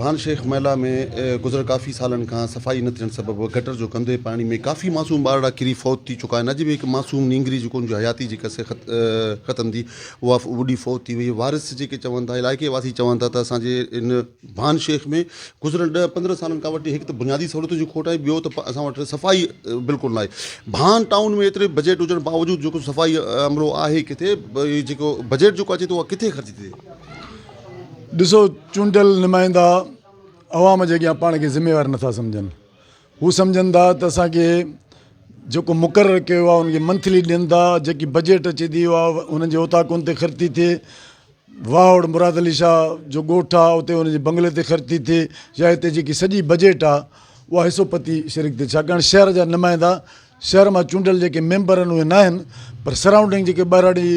خان شيخ محلا ۾ گذريل ڪافي سالن کان صفائي نه ٿيڻ سبب گٽر جو گندي پاڻي ۾ ڪافي معصوم ٻارڙا ڪري فوت ٿي چڪا آهن اڄ به هڪ معصوم نينگري جيڪو ان جي حياتي جي قصي ختم ٿي اها ٻڏي فوت ٿي وئي وارث جيڪي چون ٿا علائقي واسي چون ٿا ته اسان جي ان ڀان شيخ ۾ گذريل ڏهه پندرهن سالن کان وٺي هڪ ته بنيادي سهولتن جي کوٽ آهي ٻيو ته اسان وٽ صفائي بلڪل ناهي ڀان ٽائون ۾ ايتري بجيٽ هجڻ باوجود جيڪو صفائي عملو آهي ڪٿي جيڪو بجيٽ جيڪو اچي ٿو اها ڪٿي خرچ ٿئي ڏسو چونڊيل نمائندا عوام جي اڳيان پاڻ کي ذميوار نٿا سمجهن هو سمجهن ٿا ته اسانکي جيڪو مقرر ڪيو آهي ان کي منٿلي ڏين ٿا جيڪي بجيٽ اچي ٿي اها انهن جي اوطاقن تي خرچ ٿي ٿئي واهوڙ مراد علي شاهه جو ڳوٺ آهي اتي ان جي بنگلي تي خرچ ٿي ٿئي يا هتي جيڪي سڄي بجيٽ آهي اها حصو پتي شرڪ ٿي ٿئي ڇاڪاڻ شهر جا نمائندا شهر مان چونڊيل جيڪي ميمبر آهن اهي ناهن پر سرائونڊنگ جيڪي ٻهراڙي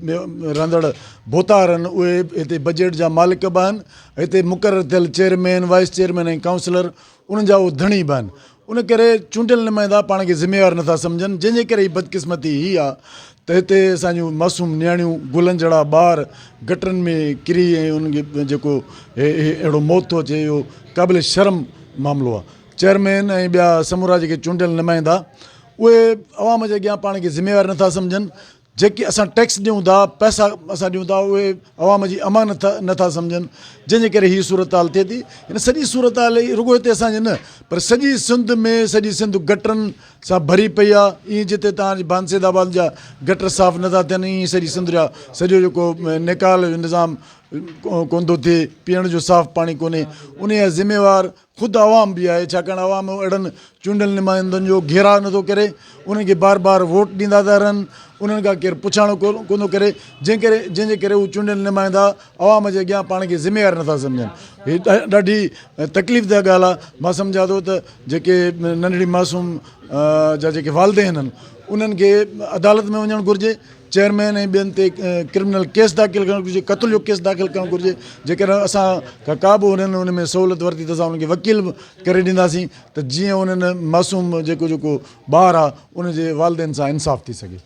۾ رهندڙ ڀوتار آهن اهي هتي بجيٽ جا مالڪ به آهن هتي مقرر ٿيل چيئرمين، وائيس چيئرمين ۽ ڪائونسلر انهن جا اهي ڌڻي به آهن ان ڪري چونڊيل نمائندا پاڻ کي ذميوار نٿا سمجهن جنهن جي ڪري هي بدقسمتي هي آ ته هتي اسان جون معصوم نياڻيون گلن جهڙا ٻار گٽرن ۾ ڪري ۽ انهن کي جيڪو اهڙو موت ٿو اچي اهو قابل شرم معاملو آ. چيئرمين ۽ ٻيا سمورا جيڪي چونڊيل نمائندا اهي عوام جي اڳيان پاڻ کي ذميوار نٿا سمجهن جيڪي اسان ٽيڪس ڏيون ٿا پئسا اسان ڏيون ٿا اهي عوام جي امانت نٿا سمجهن جنهن جي ڪري هي صورتحال ٿئي ٿي هن سڄي صورتحال هي رڳو هتي اسان جي نه پر سڄي سنڌ ۾ سڄي سنڌ گٽرن سان ڀري پئي آهي ايئن جتي توهان جي بانسيد آباد جا گٽر صاف نٿا ٿين ايئن سڄي سنڌ جا سڄو جيڪو نيڪال جو نظام ڪوندو ٿئي پيئڻ جو صاف پاڻي ڪونهي ان جا ذميوار خود عوام به آهي ڇاڪاڻ عوام اهڙن چونڊيل نمائندن جو گهيراء نه ٿو ڪري انهن کي بار بار ووٽ ڏيندا ٿا رهن انهن کان ڪير پڇاڻو ڪو نٿو ڪري جنهن ڪري جنهن جي ڪري هو چونڊيل نمائندا عوام جي اڳيان پاڻ کي ذميوار نٿا سمجهن هي ڏاڍي تڪليف ده ڳالهه آهي مان سمجهان ٿو ته جيڪي ننڍڙي معصوم جا جيڪي والدين آهن انهن کي عدالت ۾ وڃڻ گهرجي چيئرمين ۽ ٻين تي ڪرمنل ڪيس داخل ڪرڻ گهرجي قتل جو ڪيس داخل ڪرڻ گهرجي جيڪڏهن اسان کان ڪا به انهن ان ۾ سهولت ورتي ته اسان انهن کي وڪيل به ڪري ڏينداسين ته جيئن انهن معصوم جيڪو جيڪو ٻار آهي ان جي والدين سان انصاف ٿي سگهي.